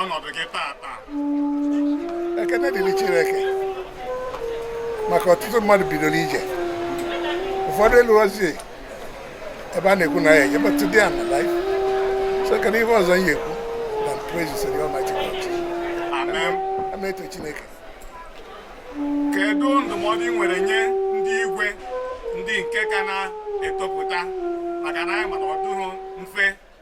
ọnọdụ gị tata ekene dịrị Chineke maka ọtụtụ mmadụ bidoro ije ụfọdụ eluozi ebe a na-ekwu na ya eje but today I'm alive so kedu ihe ọzọ m ga-ekwu than praise the Almighty God ama eto Chineke kedu ndụmọdụ ị nwere nye ndị igwe ndị nke ka na-etopụta maka na anyị ma na ọ dịghị mfe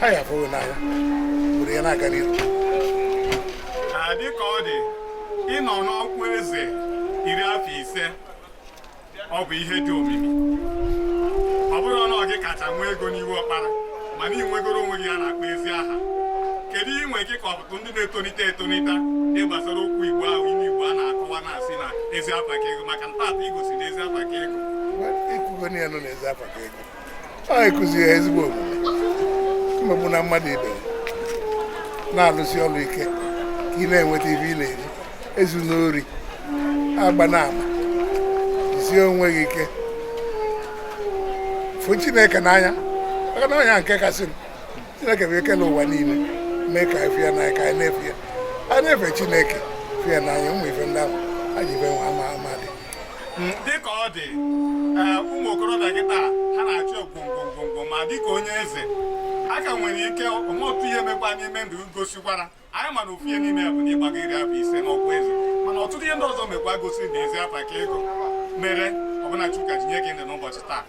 ha ya fụrụ n'anya obodo ya na-aga n'ihu dịka ọ dị ịnọ n'ọkwa eze iri afọ ise ọ bụ ihe dị omimi ọ bụrọ na ọ gị kacha nwee ego n'Ihuọkpara mana ị nwegoro onwe gị ihe a na-akpọ ezi aha kedu inwe gị ka ọtụtụ ndị na-etonite etonite dị gbasara okwu igbo ahụ ụmụ igbo na-akọwa na-asị na ezi afa ka ego maka na taata i gosi na ezi afa ka ego ekwugo na ya nọ na ezi afa ka ego anyị kụziri ha ezigbo omume emegbuna mmadụ ibe na-alụsi ọrụ ike ka ị na-enweta ife ị na-eri ezuna ori agbana ama jisie onwe gị ike fụ chineke n'anya maka na onye nke kasị chineke bụ o kelu ụwa niile mee ka anyị fụ ya n'anya ka anyị na-efe ya anyị na-efe chineke fụ ya n'anya ụmụ ife ndị ahụ anyị ife nwa ama ama dị dịka ọ dị eh, ụmụ okorobịa kịtaa ha na-achọ ogwongwongwongwo ma dịka onye eze aka nwere ike o nwee otu ihe mekwa n'ime ndụ gosikwara anyị mana ofu ihe n'ime ya bụ na ị gbago iri afọ ise n'ọkwa eze mana ọtụtụ ihe ndị ọzọ mekwa gosiri na ezi afa ka ego mere ọbụna Chukwu ka ji nye gị ndụ n'ụbọchị taa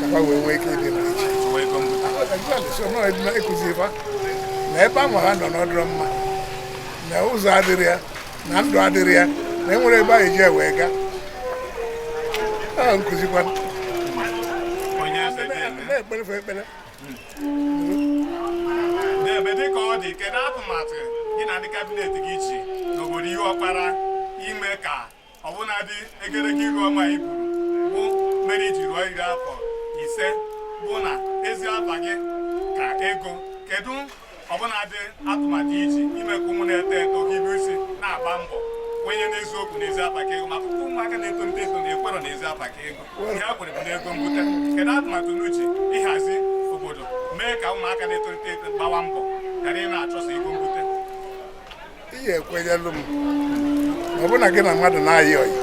ka ha wee nwee ike ịdị ịkụzi fa na ebe ahụ ha nọ na ọ dịrọ mma na ụzọ adịrọ ya na ndụ adịrọ ya na enwere ebe anyị ji wee gaa a na-akụzikwa na-ekpere fa ekpere n'ebe dịka ọ dị kedu atụmatụ gị na ndị kabinet gị ji n'obodo Ihuọkpara ime ka ọbụnadị egerege iru ọma i buru bụ mere i ji ruo iri afọ ise bụ na ezi afa gị ka ego kedu ọbụnadị atụmatụ i ji ime ka ụmụ na-eto eto hibe isi na-agba mbọ kwenye n'eziokwu n'ezi afa ka ego maka ụmụaka na-etonite eto na-ekwero n'ezi afa ka ego ihe ha kwere bụ n'ego mbute kedu atụmatụ unu ji ịhazi obodo mee ka ụmụaka na-eto eto gbawa mbọ ghara ịna-achọsa ego mbute ihe ekwenyelụ m ọ bụrụ na gị na mmadụ na-ayị ọyị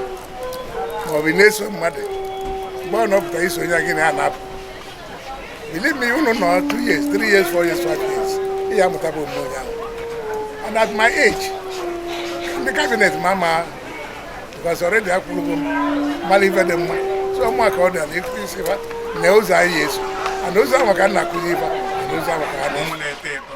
maọbụ na-eso mmadụ mgbe ọ nọpụta iso onye gị na ya na-apụ believe me unu nọ 2 years 3 years 4 years 5 years ị ya-amụtaba omume onye ahụ and at my age ndị kabinet m ama ama because already akwụrụgo m mara ife dị mma so ụmụaka ọ dị na ịkụzisi fa na ụzọ anyị eso and ụzọ ahụ ka m na-akụzi ife na ụzọ ahụ ka ha na-enwe na-eto eto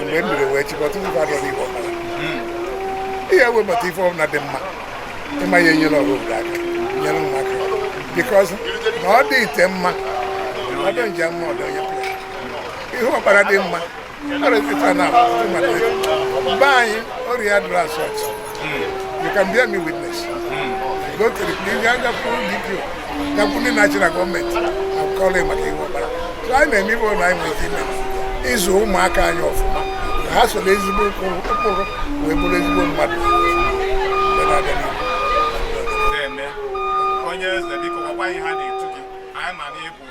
mgbe m biri wee chịkọta ife adọrọ igbo ọbara ihe webata ife ọbụla dị mma ịma ya enyere ọrụ obodo aka nyere m aka bikọz na ọ dị ite mma ọ dị nje mma ọdọ onye pụrụ ihe ọbara dị mma ọrịa ife na mmadụ be anyị ọrịa dụrụ asọt You can bear me witness. Go to the police, you have to give you. Gakwuru ndị national gọọmenti akọla maka ihe ọbara. So anyị na-eme ibe ụlọ anyị nwere ike ịzụ ụmụaka anyị ọfụma. Ha soro ezigbo ụkpụrụ wee bụrụ ezigbo mmadụ. Onye eze biko gwakwa anyị aha a na-etu gị. Anyị ma na ịbụ